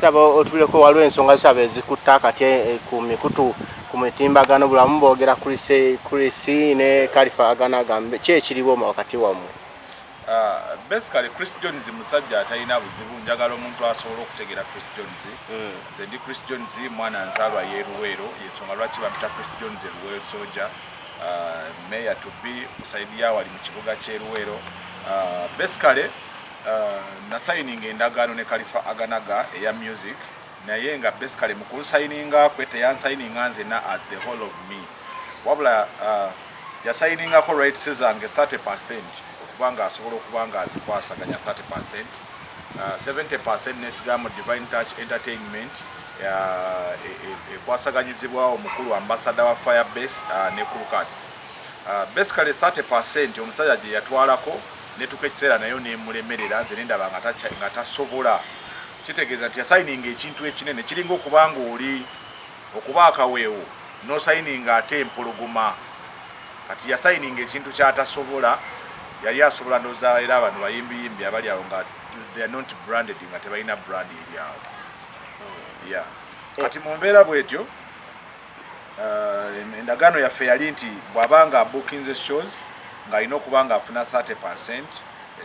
Saba otuleko waliwo ensonga saba ezikutte akati eh, ku mikutu ku mitimbagano bulamu boogera Chrisi ne Kalifa agana agambe ki ekiriwo wakati wammwe? Ah, basically Chris Jones musajja atalina buzibu njagala omuntu asobola okutegeera Chris Jones hmm. nze ndi Chris Jones mwana nzaalwa y'eruweero yensonga lwaki bamita Chris Jones eruweero soja ah, meya to be kusaidiya wali mu kibuga ky'eruweero ah, basically Nasayininga endagaano ne Kalifah Aganaga eya music naye nga basically mu kunsayininga kwe teyansayininga nzenna as the whole of me wabula yasayiningako rights zange 30 percent okuba nga asobola okuba nga azikwasaganya 30 percent 70 percent nesigaa mu Divine Touch Entertainment ekwasaganyizibwa omukulu ambasada wa Firebase ne Kulukats. Basically 30 percent omusajja gye yatwalako netuka ekiseera nayo nemulemerera nze nendaba nga tasobola kitegeeza nti yasayininga ekintu ekinene kiringa okuba nga oli okuba akaweewo nosayininga ate empologoma kati yasayininga ekintu kyatasobola yali asobola ndoza era abantu bayimbiyimbi abali awo nga they're not branded nga tebalina brand eri awo ya kati mu mbeera bwetyo Uh, endagaano yaffe yali nti bw'aba nga abukinze shows ng'alina okuba ng'afuna 30 percent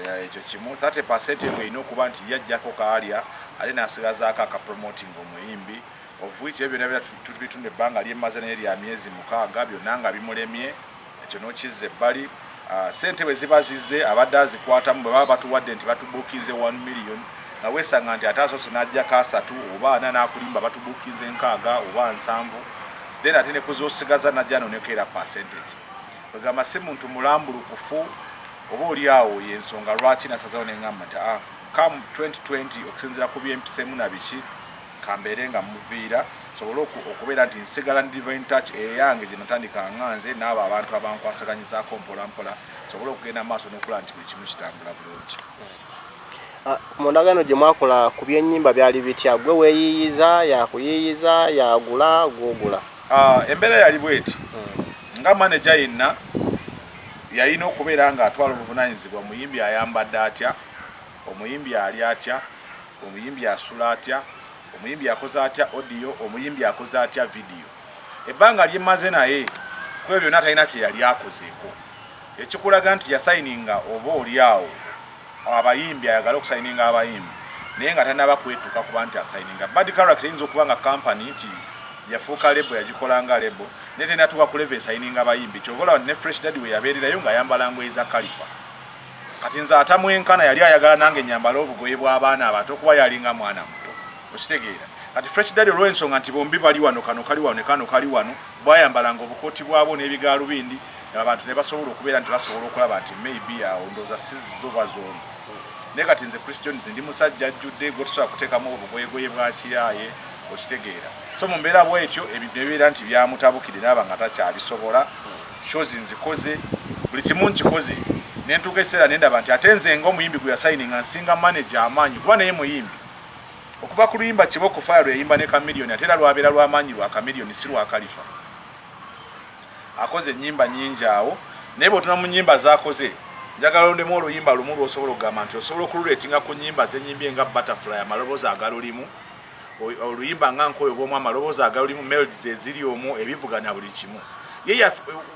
eh, ekyo kimu 30 percent eyo erina okuba nti yajjako kaalya ate n'asigazaako akapromoting omuyimbi of which ebyo byonna bitunda ebbanga lyemaze naye lya myezi mukaaga byonna nga bimulemye ekyo n'okizza ebbali sente bwe ziba zizze abadde azikwatamu bwe baba batuwadde nti batubuukinze 1 million nga weesanga nti ate asoose n'aggyako asatu oba ana n'akulimba batubuukinze nkaaga oba nsanvu then ate ne kuzoosigaza najja noneko era percentage kwegamba si muntu mulambulukufu oba oli awo yensonga lwaki nasazawo nengamba nti a ah, come 2020 okusinzira ku byempisemu na biki kambeere nga muviira sobole okubeera nti nsigala ndi divine touch eyange gye natandika nga nze n'abo abantu abankwasaganyizaako mpolampola sobole okugenda maaso n'okulaba nti buli kimu kitambula bulungi ah, mu ndagaano gye mwakola ku byennyimba byali bitya gwe weeyiiyiza yakuyiiyiza yagula gwogula ah, embeera yali bweti hmm. nga maneja yenna yalina okubeera ng'atwala obuvunanyizibwa muyimbi ayambadde atya Omuyimbi alya atya? Omuyimbi asula atya? Omuyimbi akoze atya audio? Omuyimbi akoze atya video? Ebbanga lye mmaze naye kwebyo byonna talina kye yali akozeeko ekikulaga nti yasayininga oba oli awo abayimbi ayagala okusayininga abayimbi naye nga tanaba kwetuka kuba nti asayininga bad character eyinza okuba nga kampani nti yafuuka lebo yagikola nga lebo naye tenatuuka kuleva esayininga abayimbi kyovola ne fresh dadi we yabeererayo ng'ayambala ngoye za kalifa kati nze atamwenkana yali ayagala nange nyambale obugoye bw'abaana abato kuba yalinga mwana muto okitegeera kati fresh dadi olw'ensonga nti bombi bali wano kano kali wano ne kano kali wano bwayambalanga obukooti bwabwo n'ebigaalubindi abantu ne basobola okubeera nti basobola okulaba nti maybe awo ndooza sizizo oba zoono naye kati nze christian nze ndi musajja ajjudde gwetusobola kuteekamu obugoyegoye bwakiraaye okitegeera so mu mbeera bwetyo ebintu ebibeera nti byamutabukire naaba nga takyabisobola shows nzikoze buli kimu nkikoze nentuuka ekiseera nendaba nti ate nze nga omuyimbi gwe yasayininga nsinga manaje amaanyi kuba naye muyimbi okuva ku luyimba kiba okufaya lwe yayimba ne kamiliyoni ate era lwabeera lwamaanyi lwa kamiliyoni si lwa kalifa akoze ennyimba nyingi awo naye bwotuna mu nyimba zakoze njagala ondemu oluyimba lumu lwosobola okugamba nti osobola okululetinga ku nyimba zenyimbye nga butterfly amaloboozi agalulimu oluyimba nga nkoyo bwomu amaloboozi agalulimu melds eziri omwo ebivuganya buli kimu ye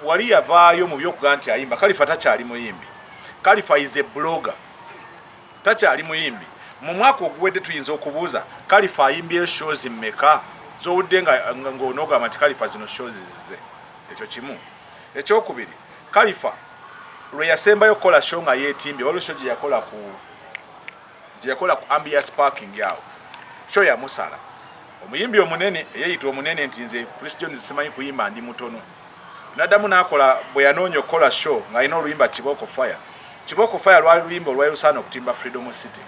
wali yavaayo mu byokuga nti ayimba kalifa takyali muyimbi kalifa is a blogger takyali muyimbi mu mwaka oguwedde tuyinza okubuuza kalifa ayimbyeyo shows mmeka zowudde ngaonogamba nti kalifa zino shows zize ekyo kimu ekyokubiri kalifa lwe yasembayo okukola show nga yetimbye waliwo sho gye yakola ku gyeyakola ku Ambias Parking awo show yamusala omuyimbi omunene eyeyita omunene nti nze Chris Jones simanyi kuyimba ndi mutono nadamu nakola bwe yanoonya okukola show ng'alina oluyimba Kiboko Fire Kiboko Fire lwali luyimba olwali lusaana okutimba Freedom City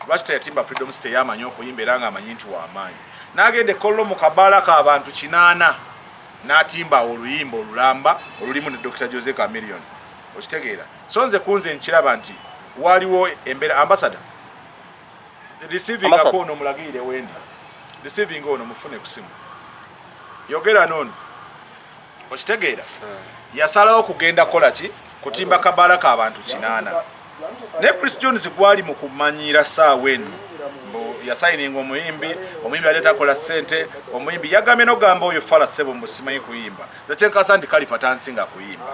lwaki teyatimba Freedom City yamanyi okuyimba era ng'amanyi nti wamaanyi n'agenda ekkollo mu kabaala k'abantu kinaana n'atimba oluyimba olulamba olulimu ne Dr Jose Chameleone okitegeera so nze kunze nkiraba nti waliwo embera ambassador receiving ako ono mulagirire wendi receiving ono mufune kusimu yogera nono okitegeera hmm. yasalawo kugenda kola ki kutimba kabala ka bantu kinana ne chris jones gwali mu kumanyira saawa eno yasayininga omuyimbi omuyimbi ate takola sente omuyimbi yagambye nogamba oyo fala sebo mbusimanyi kuyimba zakyenkasa nti kalifa tansinga kuyimba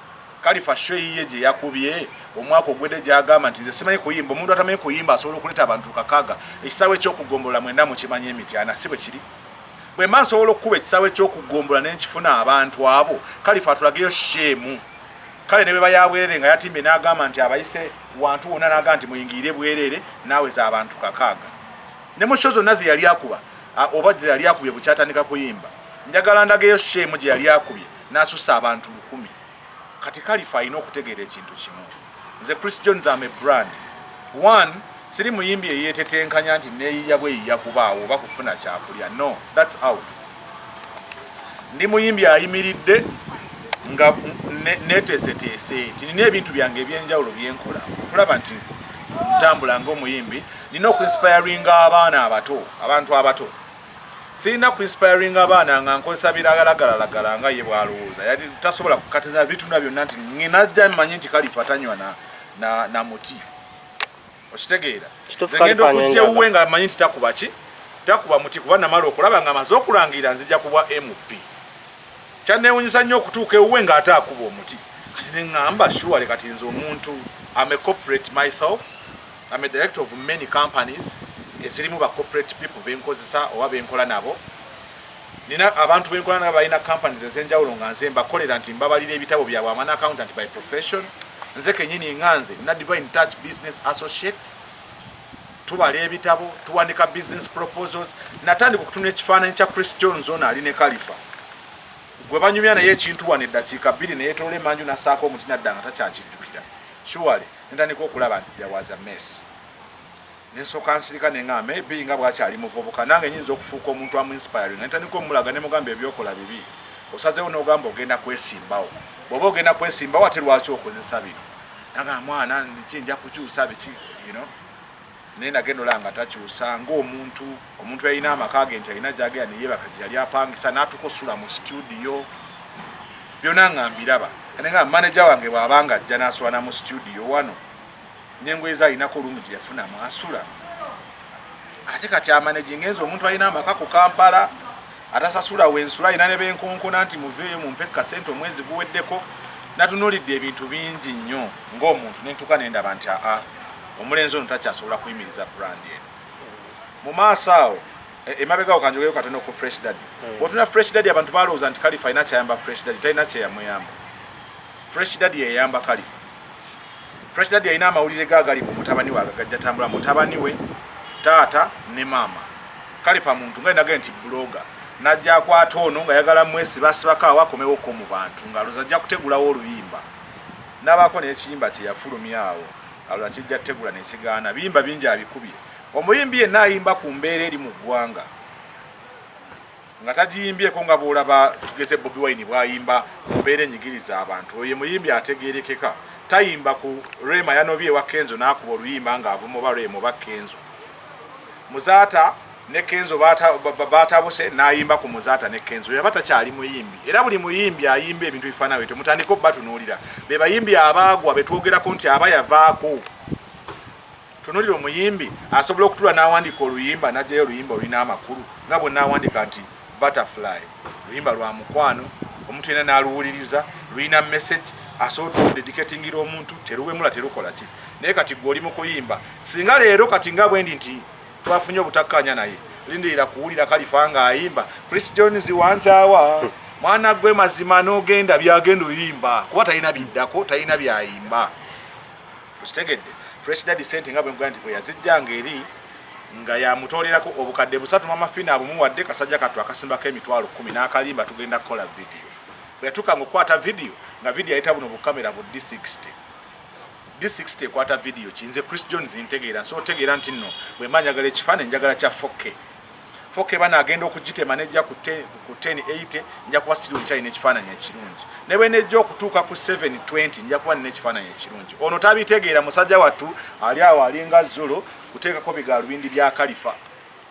Kalifa show eyiye gye yakubye omwaka ogwedde gyagamba nti nze simanyi kuyimba omuntu atamanyi kuyimba asobola okuleeta abantu kakaga ekisaawe ekyokugombola mwenda mukimanyi emityana si bwe kiri bwe mba nsobola okukuba ekisaawe ekyokugombola nenkifuna abantu abo kalifa atulageyo sheemu kale ne bwe bayabwerere nga yatimbye n'agamba nti abayise wantu wonna n'agamba nti muyingirire bwerere naawe za abantu kakaaga ne mu sho zonna ze yali akuba oba ze yali akubye bukyatandika kuyimba njagala ndageyo sheemu gye yali akubye n'asussa abantu lukumi. Kati Kalifa alina okutegeera ekintu kimu. Nze Chris Jones am a brand. One, siri muyimbi eyeetetenkanya nti neeyiya bweyiya kubaawo oba kufuna kyakulya. No, that's out. Ndi muyimbi ayimiridde nga neteeseteese nti nina ebintu byange ebyenjawulo byenkola okulaba nti ntambula ngaomuyimbi nina okuinspiringa abaana abato abantu abato Sirina ku inspiringa baana nga nkozesa biragalalagala nga ye bwalowooza yali tasobola kukatiza bitunda byonna nti ngenajja manyi nti kalifa tanywa na, na, na muti okitegeera ngenda okujja ewuwe nga manyi nti takuba ki takuba muti kuba namala okulaba nga amaze okulangira nzija kubwa mp kyanewunyisa nnyo okutuuka ewuwe nga ate akuba omuti kati neŋamba shuwale kati nze omuntu am a corporate myself I'm a director of many companies ezirimu ba corporate people benkozesa oba benkola nabo nina abantu benkola nabo balina companies ezenjawulo nga nze mbakolera nti mbabalira ebitabo byabwe amana accountant by profession nze kenyini nga nze nina divine touch business associates tubala ebitabo tuwandika business proposals natandika okutuna ekifaananyi kya chris jones ono ali ne kalifa gwe banyumya naye ekintu wano eddakiika bbiri neyetoola emanju nasaako omuti nadda nga takyakijjukira shuwale sure. Nentandika okulaba nti there was a mess. Nensoka nsirika nenga maybe nga bwakyali muvubuka nange nyinza okufuuka omuntu amu inspiring. Nentandika omulaga nemugamba ebyokola bibi. Osazewo nogamba ogenda kwesimbawo. Bwoba ogenda kwesimbawo ate lwaki okozesa bino? Naga mwana niki nja kukyusa biki, you know. naye nagenda olaba nga takyusa ng'omuntu omuntu yalina amaka ge nti alina gyagenda neyebaka gye yali apangisa n'atuuka osula mu situdiyo byonna nga mbiraba ate nga maneja wange bw'aba nga ajja n'asula na mu situdiyo wano n'engoye ze alinako olumu gye yafunamu asula ate kati amanejinga enzi omuntu alina amaka ku kampala atasasula wensula alina ne benkonkona nti muveeyo mumpe kasente omwezi guweddeko natunulidde ebintu bingi nnyo ng'omuntu nentuka nendaba nti aa omulenzi ono takyasobola kuyimiriza brand eno mu maaso awo e, emabegawo kanjogeyo katono ku fresh dad hmm. otuna fresh dad abantu balowooza nti kalifa alina kyayamba fresh dad talina kyeyamuyamba fresh dad yeyamba kalifa Fresh Daddy yalina amawulire ge agali ku mutabani we agagajja tambula mutabani we taata ne maama kalifa muntu nga nage nti buloga najja akwata ono nga yagala mwesi basibako awo akomewo ko mu bantu nga aloza ajja kutegulawo oluyimba nabaako n'ekiyimba kye yafulumya awo aloza kijja kutegula nekigaana biyimba bingi abikubye omuyimbi yenna ayimba ku mbeera eri mu ggwanga nga tagiyimbyeko nga bw'olaba tugeze Bobi Wine bw'ayimba ku mbeera enyigiriza abantu. Oyo ye muyimbi ategeerekeka, tayimba ku Rema yanobye ewa Kenzo n'akuba oluyimba ng'avuma oba Rema oba Kenzo. Muzaata ne Kenzo baatabuse n'ayimba ku Muzaata ne Kenzo. Yaba takyali muyimbi. Era buli muyimbi ayimba ebintu ebifaanana bwe bityo mutandike okubatunuulira. Be bayimbi abaagwa be twogerako nti aba yavaako. tunulira omuyimbi asobola okutula n'awandiika oluyimba n'ajjayo oluyimba olulina amakulu nga bwe naawandiika nti butterfly luyimba lwa mukwano omuntu yena n'aluwuliriza lulina message asobola okudediketingira omuntu teruwemula terukola ki naye kati gwe oli mu kuyimba singa leero kati nga bwendi nti twafunye obutakkaanya naye lindirira kuwulira kalifa ng'ayimba chris jones wantawa mwana gwe mazima n'ogenda byagenda oyimba kuba talina biddako talina byayimba okitegedde fresh daddy sente nga bwegwa nti bweyazijjanga eri nga yamutoolerako obukadde busatu mamafina abumuwadde kasajja kattu akasimbako emitwalo kumi n'akalimba tugenda kukola vidiyo bweyatuuka nga okukwata vidiyo nga vidiyo ayita buno bukamera bu d60 d60 ekwata vidiyo kinze chris jones ntegeera nsobola otegeera nti nno bwemba njagala ekifaananyi njagala kya fokke foke bana agenda okugitema nejja ku 1080 nja kuba siri omukyali n'ekifaananyi ekirungi ne bwe nejja okutuuka ku 720 nja kuba nina ekifaananyi ekirungi ono tabitegeera musajja wattu ali awo alinga zulo kuteekako bigalubindi bya kalifa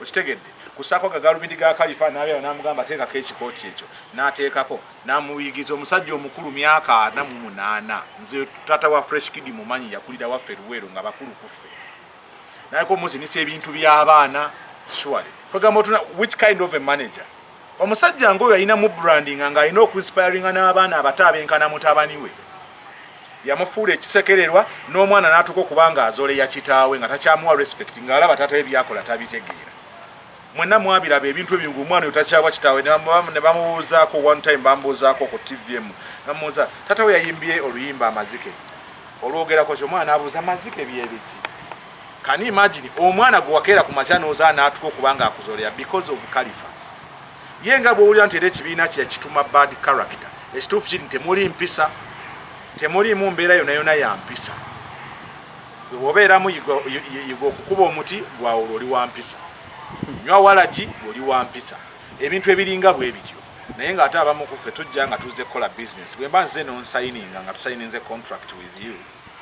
okitegedde kusako gagalubindi ga kalifa nabyawo namugamba teekako ekikooti ekyo nateekako namuyigiza omusajja omukulu myaka ana mu munaana nze tata wa fresh kidi mumanyi yakulira waffe luweero nga bakulu kuffe naye ko muzinisa ebintu by'abaana surely kwegamba otuna which kind of a manager omusajja ngaoyo alina mu branding nga alina okuinspiringa n'abaana abato abenkana mutabani we yamufuula ekisekererwa n'omwana n'atuuka okuba nga azoleya kitaawe nga takyamuwa respect ng'alaba taata we byakola tabitegeera mwena mwabiraba ebintu ebyo nga omwana oyo takyawa kitaawe ne bamubuuzaako one time bamubuuzaako ku tv emu namubuuza tata we yayimbye oluyimba amazike olwogerako kyo omwana abuuza amazike byebiki can you imagine omwana gwe wakeera ku makya nooza n'atuka okuba nga akuzolera because of kalifa ye nga bwowulira nti era ekibiina kye yakituma bad character ekituufu kiri nti temuli mpisa temuliimu mbeera yonayona ya mpisa bwewobeeramu yiga okukuba omuti gwawula oli wampisa nywa walagi oli wampisa ebintu ebiringa bwe bityo naye nga ate abamu kuffe tujja nga tuze kukola business bwemba nze nonsayininga nga tusayininze contract with you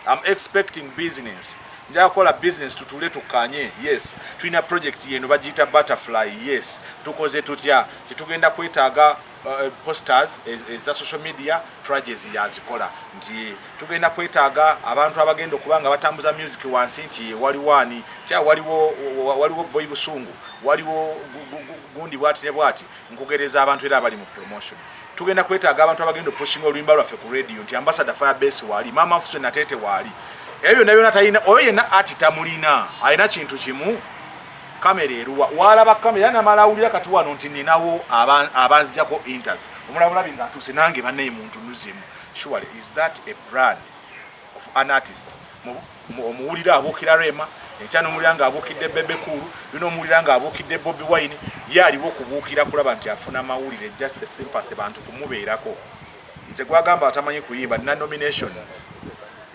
am expecting business nja kukola business tutule tukanye yes tulina project yeno bagiyita butterfly yes tukoze tutya tetugenda kwetaaga Eh, posters eh, eza social media tragedies yazikola nti tugenda kwetaaga abantu abagenda okuba nga batambuza music wansi nti waliwo ani tya waliwo waliwo boy busungu waliwo gundi bwati ne bwati nkugereza abantu era abali mu promotion tugenda kwetaaga abantu abagenda opushinga oluyimba lwaffe ku radio nti ambassador fire base waali maama fuse natete waali ebyo byonna byonna talina oyo yenna ati tamulina alina kintu kimu Camera eruwa walaba camera era namala awulira kati wano nti ninawo abanzijako interview omulabulabi nga atuuse nange banaye muntu nuzemu surely is that a brand of an artist omuwulira abuukira rema enkya nomuwulira nga abuukidde bebekulu lino omuwulira nga abuukidde bobi wine ye aliwo okubuukira kulaba nti afuna mawulire just a sympathy bantu kumubeerako nze gwagamba atamanyi kuyimba nina nominations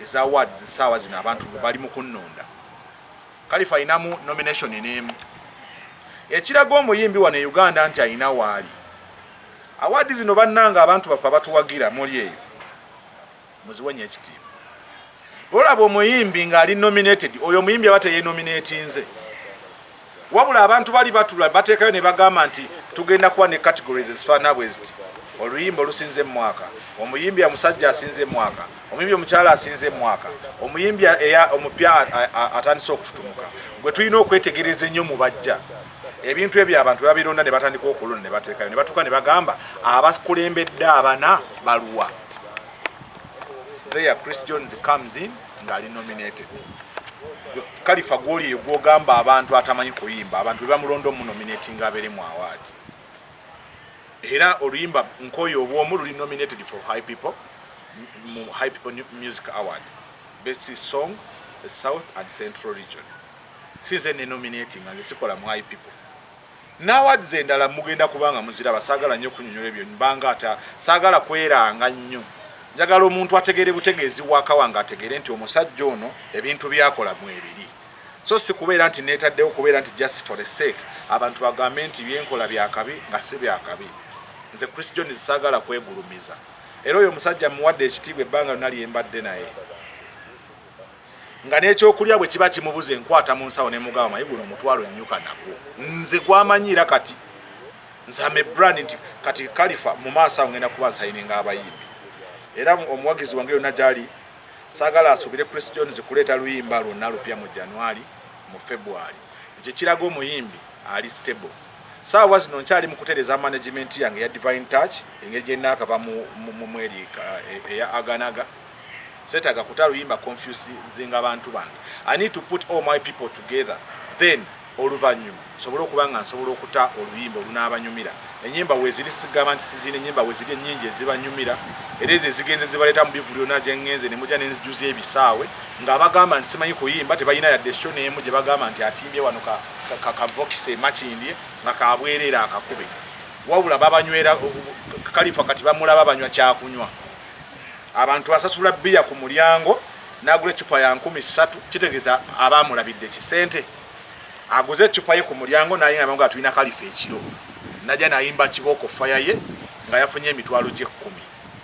eza awards esaawa zino abantu bali mukunnonda Kalifa alinamu nomination n'emu ekiraga omuyimbi wano e Uganda nti alina waali. Awaadi zino bannange abantu baffe abatuwagira muli eyo muziwenye ekitiibwa. Bwolaba omuyimbi ng'ali nominated oyo omuyimbi aba teyenominatinze. Wabula abantu bali batula bateekayo ne bagamba nti tugenda kuba ne categories ezifaanana bwe ziti oluyimba olusinze mu mwaka, omuyimbi omusajja asinze mu mwaka, omuyimbi omukyala asinze emwaka omuyimbi omupya atandise okututumuka gwe tulina okwetegereza ennyo mu bajja ebintu ebyo abantu babironda ne batandika okulona ne bateekayo ne batuuka ne bagamba abakulembedde abana baluwa there chris jones comes in ng'ali nominated kalifa gwoli eyo gwogamba abantu atamanyi kuyimba abantu bebamulonda omunominatinga abeere mu awaadi era oluyimba nkoyo obwomu luli nominated for high people mu high people music award best song south and central region sinze ne nominating nga sikola mu high people nawad zendala mugenda kubanga muzira basagala nyo kunyonyola ebyo mbanga ata sagala kweranga nyo njagala omuntu ategere butegezi waka wanga ategere nti omusajja ono ebintu byakola mwebiri so si kubeera nti neetaddewo kubeera nti just for the sake abantu bagambe nti byenkola byakabi nga si byakabi nze chris john zisaagala kwegulumiza era oyo omusajja muwadde ekitiibwa ebbanga lyona lyembadde naye nga n'ekyokulya bwe kiba kimubuza enkwata mu nsawo ne mugaba mayi guno omutwalo nnyuka nagwo nze gwamanyiira kati nze ame brand nti kati kalifa mu maaso awo ngenda kuba nsayininga abayimbi era omuwagizi wange yonna gyali Saagala asuubire Chris Jones kuleeta luyimba lwonna lupya mu January, mu February. Ekyo kiraga omuyimbi ali stable. Ssaawa zino nkyali mu kutereeza management yange eya Divine Touch engeri gye nnaakava mu mweri e, eya Aganaga. Seetaaga kuta luyimba confusing abantu bange. I need to put all my people together then oluvannyuma nsobole okuba nga nsobola okuta oluyimba olunaabanyumira, ennyimba weeziri sigamba nti sizirina, ennyimba weeziri ennyingi ezibanyumira era ezo ezigenze zibaleeta mu bivulu yonna gye ngenze ne mujja ne nzijuza ebisaawe ng'abagamba nti simanyi kuyimba tebalina yadde sho n'emu gye bagamba nti atimbye wano kavokisi emakindye nga kabwereera akakube wabula babanywera kalifa kati bamulaba banywa kyakunywa abantu asasula bbiya ku mulyango n'agula eccupa ya nkumi ssatu kitegeeza abaamulabidde kisente aguze ecupa ye ku mulyango naye nga nga tulina kalifa ekiro naja nayimba kibooko faya ye nga yafunye emitwalo gyekkumi